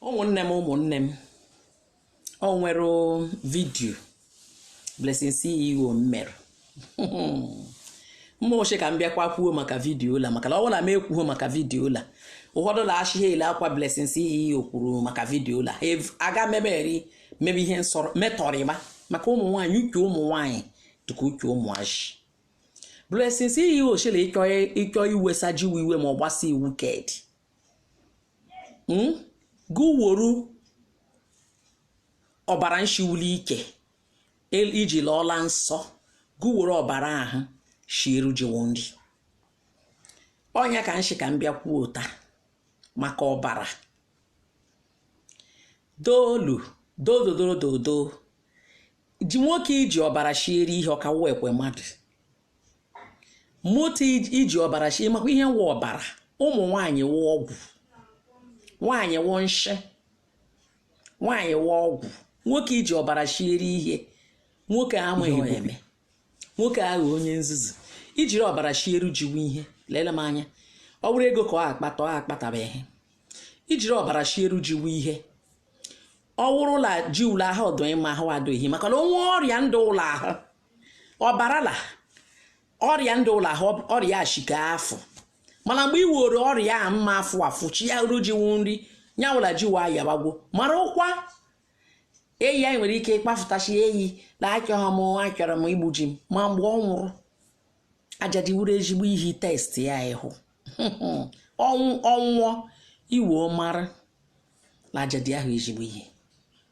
ụmụnne m ụmụnne m o nwere vidiyo Blessing CEO mmere mma oche ka m bịakwa kwuo maka vidiyo la maka na ọ bụla m ekwuo maka vidiyo la ụfọdụ la ashị ha ele akwa Blessing CEO kwuru maka vidiyo la aga meberi mebe ihe nsọrọ metọrịma maka ụmụ nwaanyị uche ụmụ nwaanyị dịka uche ụmụazị Blessing CEO shịrị ị chọ iwesa jiwu iwe ma ọ gbasa iwu kedi hmm? gụ woru ọbara nshi wu li ike i ji lọọ la nsọ gụ woro ọbara ahụ shieru jiwo nri ọ nya ka m shi ka m bịa kwuo taa maka ọbara doolu dododododo ji nwoke i ji ọbara shiere ihe ọ ka wụkwe mmadụ mụta iji ọbara shi ị makwa ihe wụ ọbara ụmụ nwaanyị wụ ọgwụ nwaanyị wụ nshị nwaanyị wụ ọgwụ nwoke i ji ọbara shieri ihe nwoke amaghị eme nwoke aghọ onye nzuzu i jiri ọbara shieru jiwu ihe lele m anya ọ bụrụ ego ka ọ akpata ọ akpatabaghị i jiri ọbara shieru jiwu ihe ọ wụrụ la jiwu la ahụ ọ dụ mma ahụ adụghị maka na o nwe ọrịa ndụ wu la ahụ ọbara la ọrịa ndụ wu la ahụ ọrịa shika afụ mana mgbe ị were ọrịa a mma afụ afụ shiaru jiwu nri nya wụ la jiwu ayabagwo mara ụkwa eyi anyị nwere ike ịkpafụta shi eyi na achọghị m achọrọ m igbu ji m ma mgbe ọ nwụrụ ajadi wuru ezigbo ihe test ya ị hụ ọnwụ ọ nwụọ i wee mara na ajadi awụ ezigbo ihe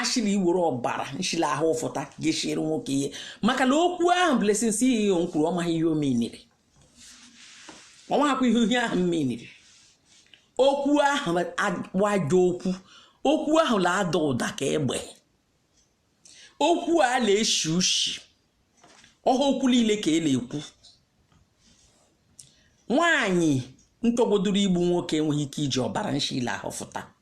ashị la i were ọbara nshi wu la ahụ fụta ga-eshiri nwoke ihe maka na okwu ahụ Blessing CEO nkwuru ọ maghị ihe o meaniri ọ maghịkwa ihe ihe ahụ mmeaniri okwu ahụ bụ ajọ okwu okwu ahụ na-ada ụda ka egbe okwu a na-eshi ushi ọ wụha okwu niile ka e na-ekwu nwaanyị ntọgbodoro igbu nwoke enweghị ike iji ọbara nshi la ahụ fụta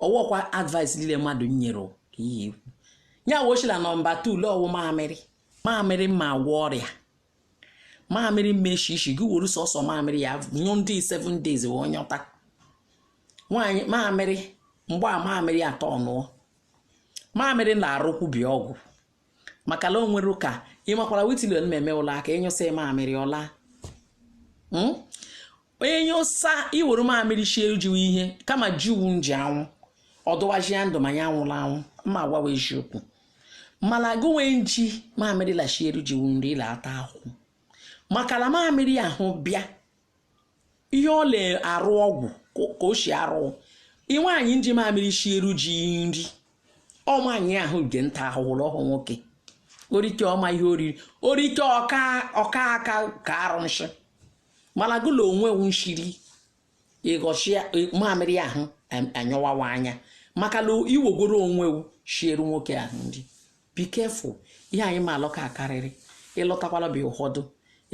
ọ wụkwa advice niile mmadụ nyere ka ihe ikwu ya wee shị la nọmba 2 la ọ wụ mamịrị mamịrị ma agwọ ọrịa mamịrị mmeshi ishi gị were sọsọ mamịrị ya nyụ ndị 7 days wee nyọta nwaanyị mamịrị mgbe a mamịrị atọ ọ ṅụọ mamịrị na-arụkwubi ọgwụ maka na o nwere ụka ị makwara witilion na-eme ụlọ aka ị nyụsa mamịrị ọ laa hmm? onye nyụsa i were mamịrị shieru jiwu ihe kama jiwu nji anwụ ọ dụwaji ya ndụ ma ya anwụla anwụ ma agwawa eziokwu mana gụ nwe nji mamịrị la-eshiere jiwu nri ị la-ata ahụ maka na mamịrị ahụ bịa ihe ọ na-arụ ọgwụ ka o si arụ ị nwaanyị nji mamịrị shieru ji nri ọ nwaanyị ahụ ge nta ahụhụ ọhụ nwoke o rike ọma ihe oriri o rike ọka ọka aka ka arụ nshị mana gụla onwe nshiri ịghọchi mamịrị ahụ anyọwawa anya maka na iwogoro onwe shieru nwoke ahụ nri Be careful, ihe anyị ma alọ ka akarịrị, ịlọtakwala bịa ụfọdụ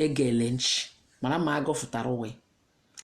egele nchi, mana ma agọfụtara onwe.